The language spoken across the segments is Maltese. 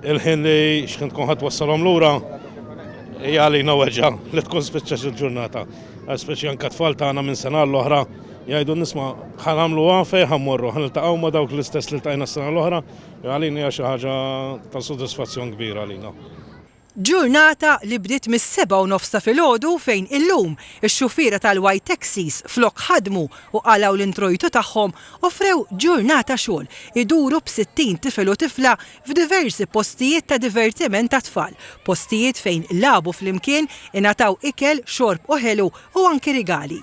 Il-ħin li xħin tkun ħadd wassalhom lura hija għalina weġa' li tkun spiċċax il-ġurnata. Għax speċi anke tfal tagħna minn sena għal oħra jgħidu nisma' ħa nagħmluha fejn ħa mmorru, ħa niltaqgħu ma' dawk l-istess li ltqajna s-sena l-oħra, għalina hija xi ħaġa ta' sodisfazzjon kbir għalina. Ġurnata li bdiet mis-sebgħa u nofs ta' filgħodu fejn illum ix-xufiera tal-White Taxis flok ħadmu u qalgħu l-introjtu tagħhom offrew ġurnata xogħol iduru b'sittin tifel u tifla f'diversi postijiet ta' divertiment għat-tfal, postijiet fejn lagħbu flimkien, ingħataw ikel, xorb u ħelu, u anki rigali.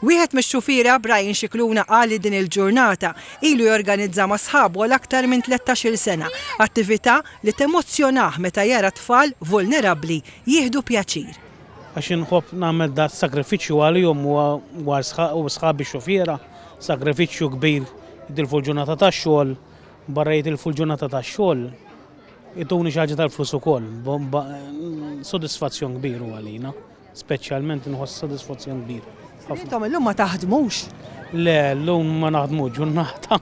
Wieħed mix-xufiera, Brian Scicluna qal li din il-ġurnata ilu jorganizza ma' sħabu għal aktar minn tlettax-il sena, attività li temozzjonah meta jara tfal vulnerabbli jieħdu pjaċir. Għax inħobb nagħmel das-sagrifiċċju għalihom u għal sħabi xufiera, sagrifiċċju kbir jitilfu l-ġurnata tax-xogħol, barra jitilfu l-ġurnata tax-xogħol ituni xi ħaġa tal-flus ukoll, sodisfazzjon kbir hu għalina. Speċjalment inħoss sodisfazzjon kbir. Ħafna. Intom illum ma taħdmux? Le, llum ma naħdmux, ġurnata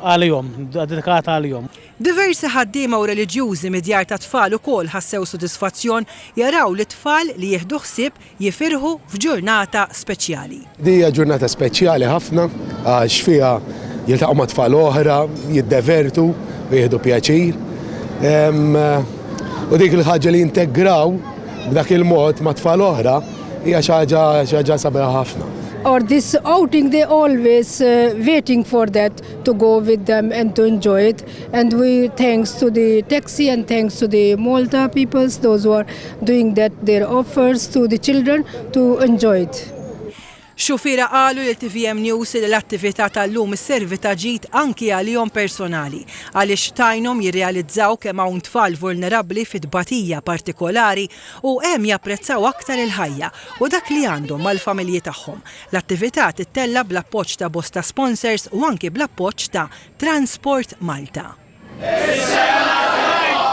għalihom, dedikata għalihom. Diversi ħaddiema u reliġjużi mid-djar tat-tfal ukoll ħassew sodisfazzjon jaraw lit-tfal li jieħdu ħsieb jifirħu f'ġurnata speċjali. Din hija ġurnata speċjali ħafna għax fiha jiltaqgħu ma' tfal oħra, jiddevertu u jieħdu pjaċir. U dik il-ħaġa li jintegraw b'dak il-mod ma' tfal oħra hija xi ħaġa xi ħaġa sabiħa ħafna. or this outing they always uh, waiting for that to go with them and to enjoy it and we thanks to the taxi and thanks to the Malta peoples those who are doing that their offers to the children to enjoy it Xufiera qalu lil tvm News li l-attività tal-lum isservi ta' ġid anki għalihom personali għaliex tgħinhom jirrealizzaw kemm hawn tfal vulnerabbli fi tbatija partikolari u hemm japprezzaw aktar il-ħajja u dak li għandhom mal-familji tagħhom. L-attività tittella' bl-appoġġ ta' bosta sponsors u anki bl-appoġġ ta' Transport Malta. Is-sena t-tajba!